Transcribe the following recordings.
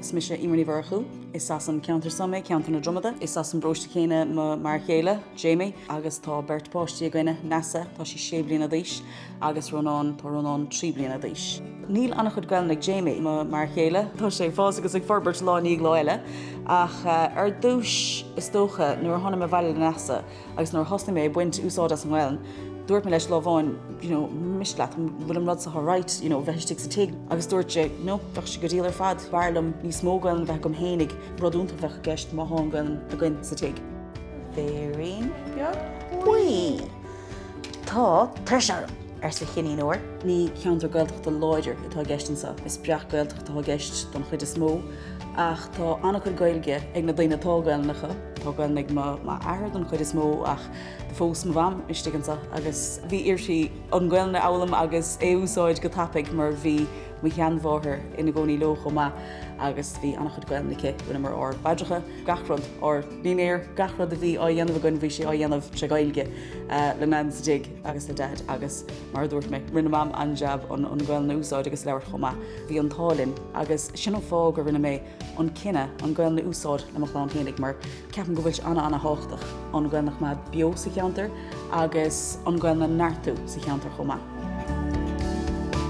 Is mise Emer Ní Mhurchú. Is as an ceantar san mé, ceantar na Dromada. Is as an bpróiste céanna m'fhear chéile, Jamie, agus tá beirt pháistí againne, Neasa, tá sí sé bliana d'aois, agus Rónán, tá Rónán trí bliana d'aois. Níl an-chuid Gaelainne ag Jamie, m'fhear chéile. Tá sé ag fás agus ag forbairt lá i ndiaidh lá eile. Ach ar dtús, is dócha, nuair a tháinig mé abhaile le Neasa, agus nuair a thosnaigh mé ag baint úsáid as an nGaelainn, dúirt mé leis lá amháin, you know, an miste leat, an bhfuil an rud so alright, you know, bheith istigh sa tigh? Agus dúirt sé, no, bheadh sé go diail ar fad, b'fhearr liom níos mó Gaelainn a bheith agam fhéinig, rud iontach a bheadh i gceist má thá an Ghaelainn againn sa tigh. Béirín beag buí. Tá tuirse orm! arsa Cinnín Óir. Ní ceantar Gaeltachta láidir atá i gceist anseo, is breac-Ghaeltacht atá i gceist don chuid is mó, ach tá an-chuid Gaeilge ag na daoine atá Gaelainn acu. Tá Gaeilge ag m'athair don chuid is mó ach do phós mo mham isteach anso agus bhí uirthi an Ghaolainn a fhoghlaim agus é a úsáid go tapaidh mar bhí mo sheanmháthair ina gcónaí leo chomh maith agus bhí an-chuid Gaolainn aici. Rinneamar ár bpaidreacha, gach rud, ár ndinnéar, gach rud a bhí á dhéanamh againn bhí sé á dhéanamh tré Ghaeilge le Nain sa dtigh agus le Daid agus mar a dúirt mé rinne mam an-jab an Ghaolainn a úsáid agus labhairt chomh maith. Bhí an t-ádh linn agus sin an fáth gur rinne mé an cinneadh an Ghaelainn a úsáid le mo chlann fhéinig mar ceapaim go bhfuil sé ana ana thábhachtach an Ghaelainn a choimeád beo sa cheantar agus an Ghaelainn a neartú sa cheantar chomh maith.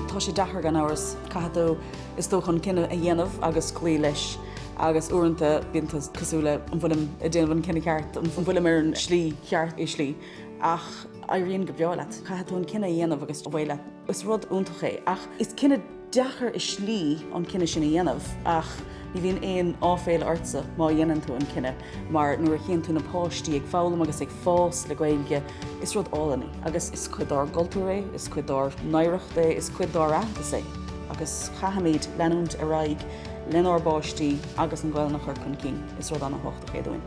Tá sé deacair gan amhras, caithfidh tú is dócha an cinneadh a dhéanamh agus cloí leis agus uaireanta bíonn tú cosúil le an bhfuilim ag déanamh an cinneadh ceart, an bhfuilim ar an slí cheart, i slí ach éiríonn go breá leat. Caithfidh tú an cinneadh a dhéanamh agus cloí leis. Is rud iontach é, ach is cinneadh deacair i slí an cinneadh sin a dhéanamh ach ní bhíonn aon áiféala ortsa má dhéanann tú an cinneadh mar nuair a chíonn tú na páistí ag foghlaim agus ag fás le Gaeilge is rud álainn é agus is cuid dár gcultúr é, is cuid dár n-oidhreacht é, is cuid dár n-aitheantas é agus caithfimid leanúint ar aghaidh lenár bpáistí agus an Ghaelainn a chur chun cinn. Is rud ana-thábhachtach é dúinn.